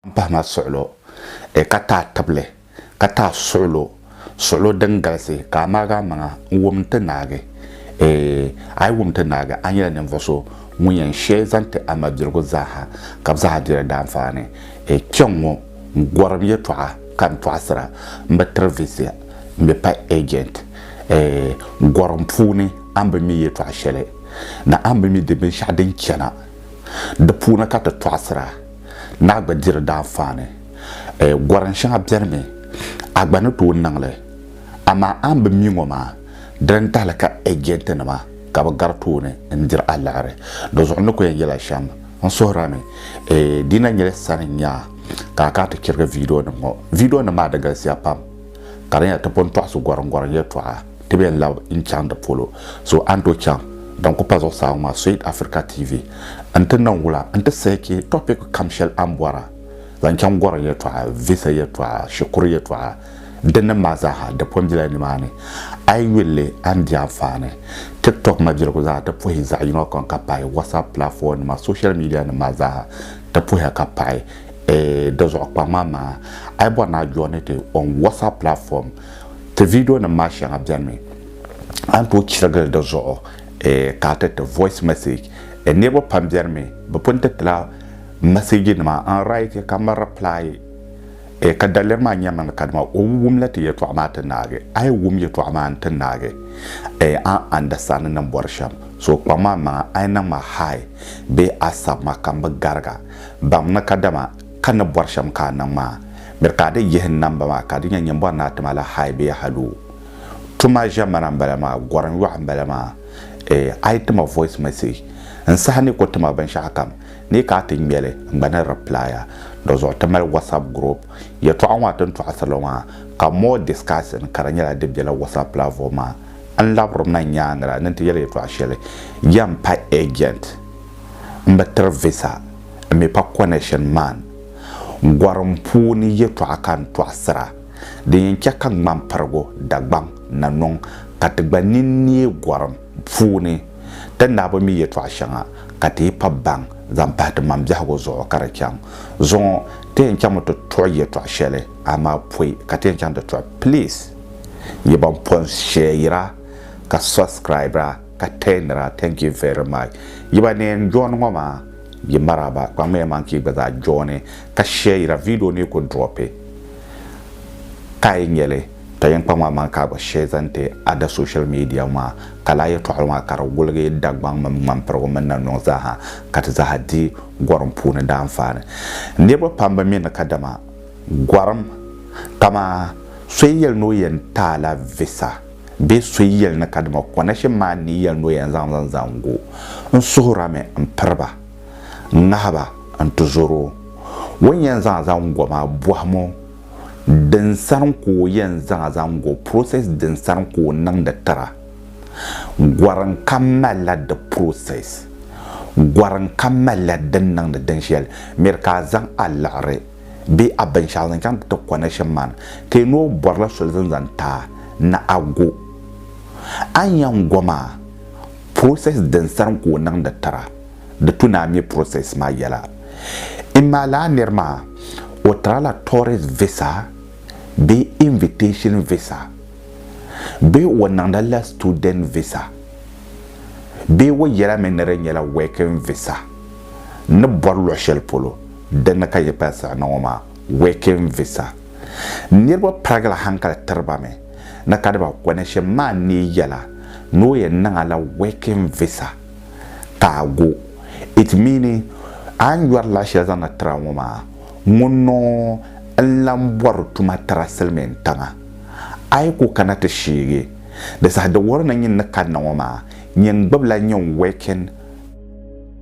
m-pahi ma suɣilo, e ka taai tibili, ka taai suɣilo, suɣilo din galisi, ka a maagi a maŋa n-wum nti naagi, e a yi wum nti naagi, a nyɛla ninvuɣ so ŋun yɛn shee zaŋ ti a mabiligu zaaha, ka bɛ zaaha diri daanfaani. E kpiɔŋ-ŋɔ, n gɔrim yɛtɔɣa ka n tɔɣisira, m bi tiri visa, m bi pa agent, e gɔrim puuni a ni bi mi yɛtɔɣ shɛli, ni a ni bi mi di binshɛɣu din chana, di puuni ka ti tɔɣisira. Naa gba diri daanfaani. Eh, gorim shɛŋa beni mi, a gba ni tooi niŋ li. Amaa a ni bi mi ŋɔ maa, diri n tahili ka ɛjɛntinima ka bɛ gari tooni n-diri a liɣiri. Dizuɣu n ni ku yɛn yɛl a shɛm. N suhira ni, eh, di na nyɛla sani n-nya a ka a kana ti chirigi viidiyonim ŋɔ. Viidiyonim maa di galisiya pam ka di nyɛla ti pun tɔɣisi gorimgorim yɛltɔɣa. Ti bɛn labi n chaŋ di polo so a ni tooi chaŋ din ku pa zuɣusaa ŋɔ maa Sweet Africa TV n ti niŋ wula n ti sahi chɛ topic kam shɛli a ni bɔra zaŋ chaŋ gɔrim yɛltɔɣa, visa yɛltɔɣa, shikuru yɛltɔɣa dinnim maa zaaha di pun bela nimaani. A yi yuli li a ni di anfaani. Tiktok mabiligu zaa ti puhi zaɣ yino kam ka pahi WhatsApp platform nima, social media nim maa zaaha ti puhiya ka pahi. Eeh di zuɣu kpaŋ maa maa a yi bɔri ni a join ti on WhatsApp platform Ti vidio nim maa shɛŋa bɛni mi a ni tooi chirigili di zuɣu ka a ti ti voice message. Niriba pam bɛni mi bi pun ti tila message nima n write ka mi reply ka daliri maa nyɛmi ni kadama o ni wum la ti yɛltɔɣa maa ti naagi. A yi wum yɛltɔɣa maa n ti naagi a ni understand ni bɔri shɛm so kpaŋ ma n maŋa a yi niŋ ma hi bee a sabi ma ka mi gariga baŋ ni kadama Ka ni bɔri shɛm ka a niŋ maa, miri ka a di yihi n namba maa ka a di nya nyimbɔri ni a ti ma la high bee haloo. Tuma ʒemana m-bala maa, gɔrim yɔɣu m-bala maa. Eeh, a yi ti ma voice message, n saha ni ku ti ma binshɛɣukam, ni ka a ti ŋme li, n gba ni reply a. Dɔzuɣu ti mali WhatsApp group. Yɛtɔɣa ŋɔ a ti ni tɔɣisiri li maa, ka more discussing ka di nyɛla di bela WhatsApp platform maa. N labiri ma nyaaŋa la ni n ti yɛli yɛtɔɣa shɛli, Yɛn pa agent, m bi tiri visa. n mi pa connection man gorim puuni yɛtɔɣa ka n tɔɣisira din yɛn chɛ ka ŋmampirigu Dagbaŋ na niŋ ka ti gba nini neei gorim puuni ti naa bi mi yɛtɔɣa shɛŋa ka ti yi pa baŋ zaŋ pahi ti maŋ biɛhigu zuɣu ka di chaŋ zuŋɔ ti yɛn chaŋmi ti tuɣi yɛtɔɣa shɛli amaa pɔi ka ti yɛn chaŋ ti tuɣi please yi ban pɔn shɛyira ka subscribira ka tɛɛnira thank you very much yi ba neen jooni ŋɔ maa yi maraba kpaŋmiya man ka yi gba zaa jooni ka shɛɛyira video ni yi ku dropi ka yi nyɛli ka yin kpaŋma man ka a gba shɛɛ zaŋ ti ada social media maa ka laa yɛtɔɣili maa ka di wuligi Dagbaŋ mini Ŋmanpirigu mini Nannuŋ zaaha ka ti zaaha di gɔrim puuni daanfaani niriba pam bi mi ni kadama gɔrim kamaa so yi yɛli ni o yɛn ti a la visa bee so yi yɛli ni kadama kɔnashim maa ni yi yɛli ni o yɛn zaŋ zaŋ zaŋg o, n suhirami m-piri ba, n ŋahi ba n-tizɔr o. O ni yɛn zaŋ zaŋg o maa, bɔhim o, din sani ka o yɛn zaŋ zaŋg o, process din sani ka o niŋdi tira. Gɔrim kam malila di process. Gɔrim kam malila din niŋdi din shɛli. Miri ka a zaŋ a liɣiri. bee a binshɛɣu zaŋ chaŋ ti connection man ka yi noo bɔrila soli zani zaŋ ti a ni a go. A ni yɛn go maa, process din sarim ka o niŋdi tira di tu ni a mi process maa yɛla. Imma lala niri maa o tira la tourist visa bee invitation visa bee o niŋdi la student visa bee o yɛla mi ni di nyɛla working visa ni bɔri luɣ'shɛli polo. Di ni ka yi pali sara niŋ o maa, working visa, niriba pirigila hankali tiri ba mi ni ka di ba connection maa neei yɛla ni o yɛn niŋ a la working visa ka a go. It meaning a ni yɔri la shɛli zaŋdi tiri a ŋɔ maa, ŋun noo n-lan bɔri tuma tira silimiin tiŋa. A yi ku kana ti sheegi di saha di wuhiri ni nyini ni kanna ŋɔ maa, nyin gbibila nyin working.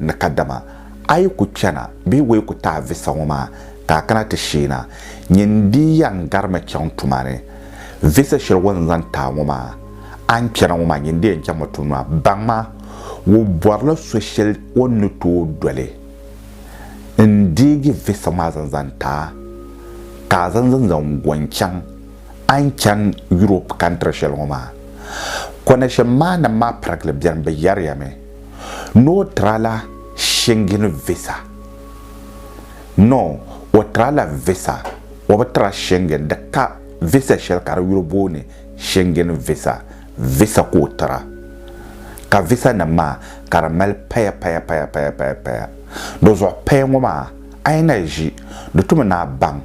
ni kadama a yi ku chana bee wayi ku taai visa ŋɔ maa ka a kana ti sheena, nyin dii yan garimi chaŋ tuma ni. Visa shɛli wan zaŋ taai ŋɔ maa, a ni chana ŋɔ maa nyin dii yan chaŋmi tuma maa, baŋma wɔ bɔrila so shɛli o ni tooi doli n-deegi visa maa zaŋ zaŋ taai ka a zaŋ zaŋ go n-chaŋ a ni chani Europe kantiri shɛli ŋɔ maa. Kɔnɛshin maa nam maa pirigili beni, bɛ yɛriyami. Nɔ tra la Schengen visa? Nɔ ɔ tra la visa, ɔ bi tra Schengen di ka visa shɛli ka di yuli booni Schengen visa, visa ka ɔ tra. Ka visa nim maa ka di mali paya paya paya paya paya paya. Di zuɣu paya ŋɔ maa a yi na ʒi di tumi ni a baŋ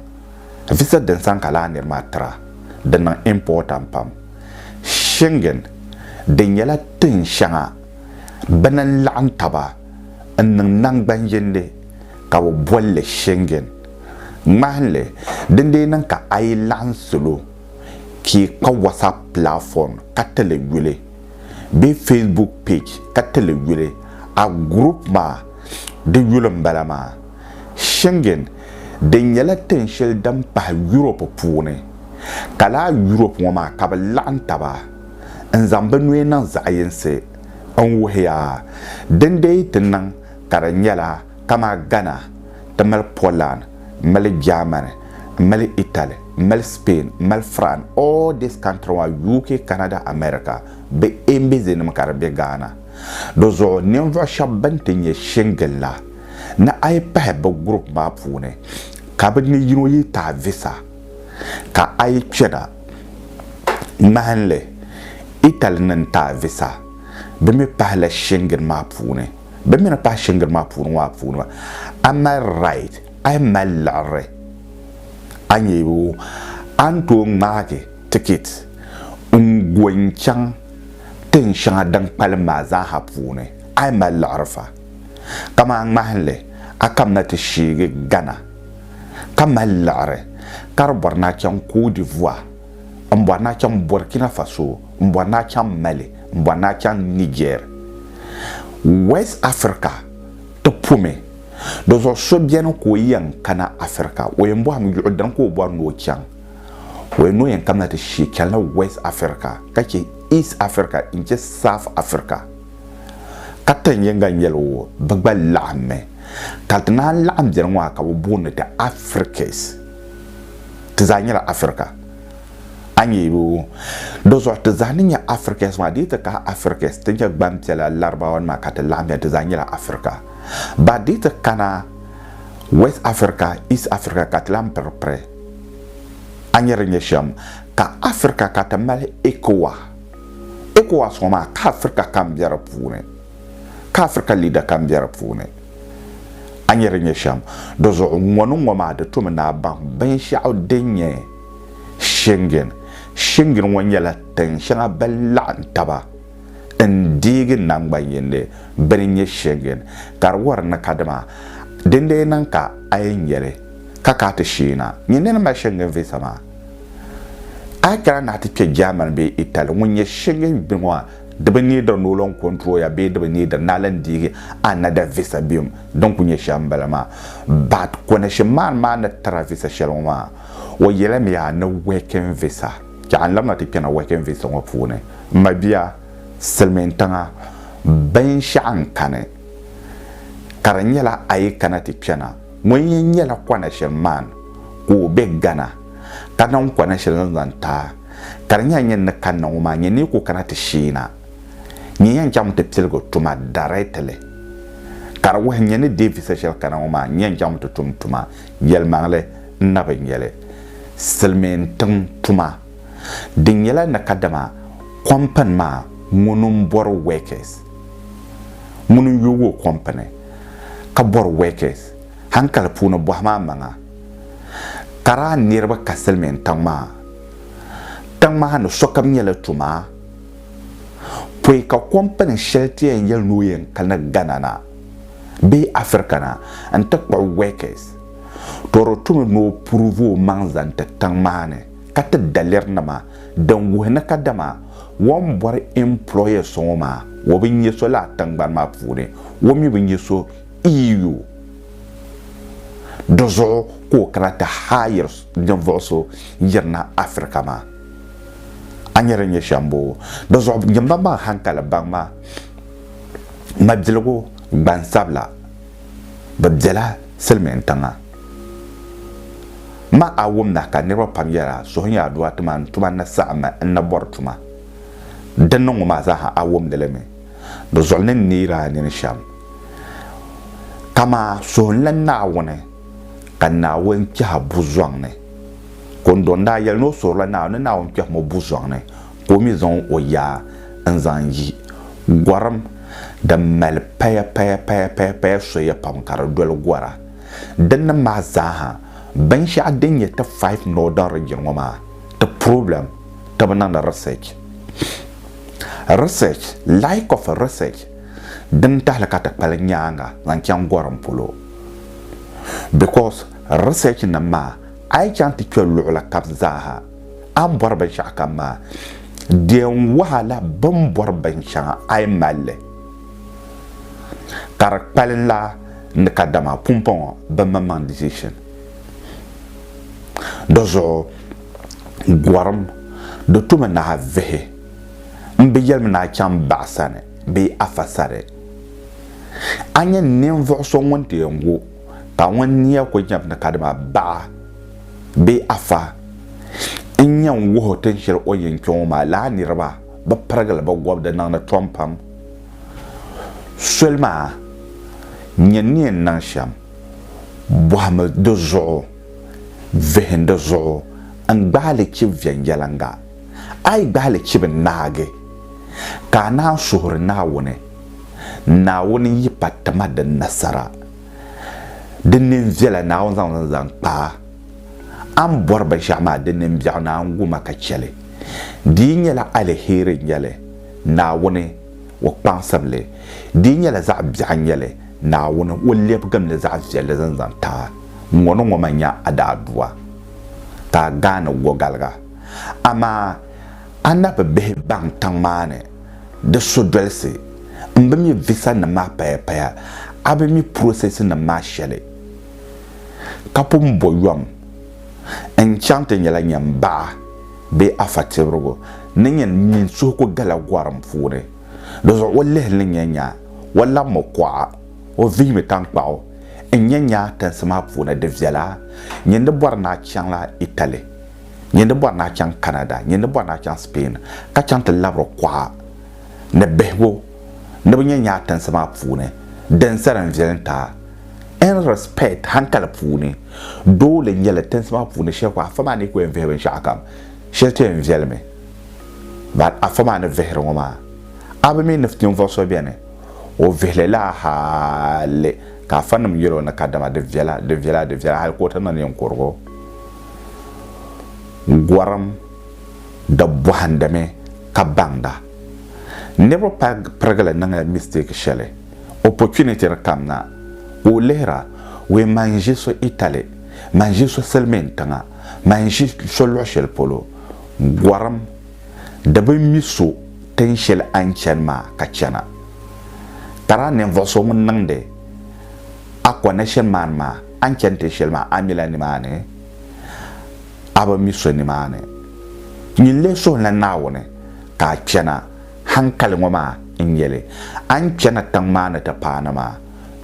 visa din sani ka lala niri maa tra, di niŋ important pam. Schengen, di nyɛla tin shɛŋa bɛ ni laɣim taba n-niŋ naŋgbanjindi ka bɛ boli li Schengen. Ŋmahinli, din dee niŋ ka a yi laɣim salo ka yi kpa WhatsApp platform ka ti li yuli bee Facebook page ka ti li yuli, a group maa di yuli m-bala maa. Schengen din nyɛla tin shɛli din pahi Europe puuni, ka laa Europe ŋɔ maa ka bɛ laɣim taba n zaŋ bɛ nuhi niŋ zaɣiyinsi n wuhiya. Din deei ti niŋ ka di nyɛla kamaa Ghana ti mali Poland n mali Germany n mali Italy n mali Spain n mali Fran all this country ŋɔ UK Canada America bɛ embassy nim ka di be Ghana. Di zuɣu ninvuɣu shɛba bɛn ti nyɛ Schengen la, ni a yi pahi bɛ group maa puuni ka bɛ ni yino yi taai visa ka a yi kpɛna. Ŋmahinli, Italy ni ni taai visa bɛ mi pahi la Schengen maa puuni. Bɛ mi ni pahi Schengen maa puuni ŋɔ a puuni maa a mali right, a yi mali liɣiri a ni yi wum a ni tooi ŋmaagi ticket n go n chaŋ tin shɛŋa din kpalim maa zaa ha puuni a yi mali liɣiri fa. kamani ŋmahinli a kam na ti sheegi Ghana ka mali liɣiri ka di bɔri ni a chaŋ Côte d'Ivoire, n bɔri ni a chaŋ Burkina Faso, n bɔri ni a chaŋ Mali, n bɔri ni a chaŋ Niger. West Africa ti pomi, di zuɣu so beni ka o yɛn kana Africa, o yɛn bɔhim yuɣu din ka o bɔri ni o chaŋ. O yɛn ni o yɛn kam na ti sheei chanila West Africa ka che East Africa n-che South Africa. ka tin yiŋga n-yɛl o bɛ gba laɣimmi, ka ti naan laɣim beni ŋɔ ha ka bɛ booni ti Africas. Ti zaa nyɛla Africa. A nya yi o? Dɔzuɣu ti zaa ni nyɛ Africas maa, di yi ti kahi Africas, ti nyɛ gbampiɛla, Laribaawanima ka ti laɣimya, ti zaa nyɛla Africa. Ba di yi ti kana West Africa, East Africa ka ti lan piri piri. A nya di ni nyɛ shɛm ka Africa ka ti mali Ecowa. ECOWAS ŋɔ maa ka Africa kam be di puuni, ka Africa leader kam be di puuni. A nyɛ di nyɛ shɛm. Di zuɣu ŋɔ ni ŋɔ maa di tomi ni a baŋ binshɛɣu din nyɛ Schengen. Schengen ŋɔ nyɛla tin shɛŋa bɛn laɣim taba n deegi naŋgban yindi bini nyɛ Schengen. Ka di wari ni ka dima din lee niŋ ka a yɛn nyɛli ka ka ti sheei na nyɛ nini mali Schengen visa maa. A yi kana ni a ti kpe German bee Italy, ŋun nyɛ Schengen gbi ŋɔ a, di bi neediri ni o lan kɔntrol ya bee di bi neediri ni a lan deegi another visa bim din kuli nyɛ shɛm m-bala maa. But connection man maa ni tira visa shɛli ŋɔ maa, o yɛla mi a ni working visa. Chɛ a ni labina ti kpɛna working visa ŋɔ puuni. M mabia, silimiintiŋa binshɛɣu n-kani ka di nyɛla a yi kana ti kpɛna, Ŋun yɛn nyɛla Konashel man ka o be Ghana ka niŋ Konashel ni zaŋ ti a ka di nyɛla nyini ni kanna ŋɔ maa nyɛ ni yi ku kana ti shee na nyin yɛn chaŋmi ti piligi tuma dareetili ka di wuhi nyɛ ni deei visa shɛli kana ŋɔ maa nyɛn chaŋmi ti tum tuma yɛlimaŋli n na bi nyɛli silimiin tiŋ tuma din nyɛla ni kadama kompani maa ŋuni m bɔri workers ŋuni n yoogi o kompani ka bɔri wɛkɛs hankali puuni bɔhi ma amaŋa kara niriba ka silimiin tiŋ maa. Tiŋ maa ni sokam nyɛla tuma pɔi ka kɔmpani shɛli ti yɛn yɛli ni o yɛn kani Ghana na bee Africa na n-ti kpuɣi wɛkɛs, tɔ di tumi ni o pruvi o maŋ zaŋ ti tiŋ maa ni. ka ti daliri nima din wuhi ni kadama o ni bɔri employer so ŋɔ maa o bi nyɛ so lala tingbani maa puuni, o mi bi nyɛ so EU. Di zuɣu ka o kana ti hire ninvuɣu so yirina Africa maa. A nya din nyɛ shɛm boo? Di zuɣu nyini ba baŋ hankali baŋ ma mabiligu gbansabila bi bela silimiintiŋa. Ma a wum na ka niriba pam yɛra suhu nyɛ aduwa ti ma n tuma ni saɣim ma n ni bɔri tuma din niŋ ŋɔ maa zaa ha a wumdi li mi di zuɣu ni n neeri a nini shɛm ka ma suhunla Naawuni ka Naawuni kpɛh a bu zɔŋ ni ka n dɔn daa yɛli ni o suhirila Naawuni ni Naawuni kpɛhim o bu zɔŋ ni ka o mi zaŋ o yaa n zaŋ yi gɔrim din mali paya paya paya paya paya soya pam ka di doli gɔra Dinnim maa zaaha, binshɛɣu din nyɛ ti five northern region ŋɔ maa ti problem ti bi niŋdi research. Research, like of research din tahili ka ti kpali nyaaŋa zaŋ chaŋ gorim polo. Because research nim maa a yi chaŋ ti kpe luɣili kab zaaha a ni bɔri binshɛɣu kam maa, di yɛn wahala bɛ ni bɔri binshɛŋa a yi mali li. ka di kpali la ni kadama pumpɔŋɔ bimaŋmaŋ decision. Di zuɣu gorim di tumi nahi vihi n bi yɛlimi ni a chaŋ baɣisani bee afa sani. A nya ninvuɣ so ŋun ti yɛn gu ka ŋun nia ku nyab ni kadama baɣa bee afa n-yɛn wuhi o tinshɛli o yɛn kpe ŋɔ maa lala niriba bi pirigili bi gɔbu di niŋdi tɔm pam. Soli maa nyɛ ni yɛn niŋ shɛm bɔhimi di zuɣu, vihim di zuɣu n-gbahi li chib viɛnyɛliŋga. A yi gbahi li chib naagi, ka a naan suhuri Naawuni, Naawuni n-yi pa ti ma di nasara. Di nini viɛla Naawuni zaŋ li n-zaŋ kpa a. A ni bɔri binshɛɣu maa di nini biɛɣu ni a ni gu ma ka chɛ li, di yi nyɛla aliheri n-nyɛ li. Naawuni O kpaŋsibili. Di nyɛla zaɣ biɛɣu n-nyɛli Naawuni O lɛbigimli zaɣ viɛlli zaŋ zaŋ ti a. Ŋɔni ŋɔ man nya a daa du a ka a gaani gɔgaliga. Amaa a na bi bihi baŋ tiŋ maa ni di sodolisi. M bi mi visa nim maa paya paya. A bi mi process nim maa shɛli ka pun bɔ yom. n chaŋ ti nyɛla nyin baɣa bee afa tibirigu ni nyin mini suhigu gala gɔrim puuni. Di zuɣu o lihili ni nya nyaa, o lab mo kuɣa, o vihimi taŋkpaɣu n nya nyaa tinsi maa puuni di viɛla, nyin ni bɔri ni a chaŋla Italy, nyin ni bɔri ni a chaŋ Canada, nyin ni bɔri ni a chaŋ Spain ka chaŋ ti labiri kuɣa ni bihigu ni bi nya nyaa tinsi maa puuni, din sa din viɛli n-ti a. In respect, hankali puuni, doole nyɛli tinsi maa puuni shɛli ka afa maa ni ku yɛn vihi binshɛɣukam, shɛli ti yɛn viɛli mi. But afa maa ni vihiri ŋɔ maa, a bi mi ni ninvuɣ so beni, o vihili la hali ka afanim yɛl o ni kadama di viɛla, di viɛla, di viɛla hali ka o ti niŋ ninkurigu. Gɔrim di bɔhindimi ka baŋda. Niriba pali pirigili niŋla mistake shɛli. opportunity di kam na ka o lihira wee man n ʒi so Italy man ʒi so silimiin tiŋa man ʒi so luɣi shɛli polo gorim di bi mi so tin shɛli a ni chani maa ka chana tara ninvuɣu so ŋun niŋdi a connection man maa a ni chani tin shɛli maa a mila nimaani a bi mi so nimaani nyini lee suhila Naawuni ka a chana Hankali ŋɔ maa n-nyɛ li, a ni chana tiŋ maa ni ti paani maa,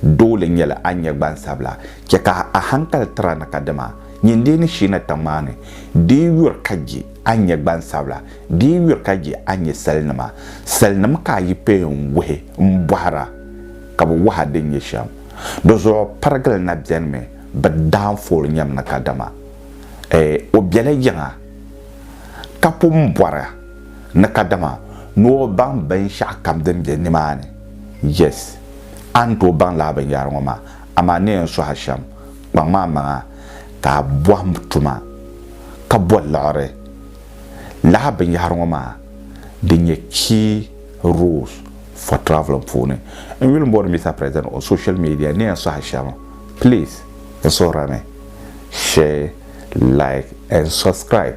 doole n-nyɛ li a ni nyɛ gbansabila. Chɛ ka a hankali tira ni ka dima nyɛ n dii ni shiina tiŋ maa ni. Di yi yuri ka je a ni nyɛ gbansabila, di yi yuri ka je a ni nyɛ salinima, salinim ka a yi peei n-wuhi m-bɔhira ka bɛ wuhi a din nyɛ shɛm. Dizuɣu pirigili na bɛnimi bɛ daanfool nyam ni ka dima, ɛɛ, o bela yiŋa ka pun bɔra. ni kadama ni o baŋ binshɛɣu kam din be nimaani. Yes, a ni tooi baŋ lala binyɛhiri ŋɔ maa, amaa ni yɛn suhi a shɛm, kpaŋm a maŋa ka a bɔhim tuma ka bɔ liɣiri lala binyɛhiri ŋɔ maa din nyɛ key roles for travelling puuni. N yuli m-booni Mister President on social media ni yɛn suhi a shɛm, please n suhirimi, share, like and subscribe.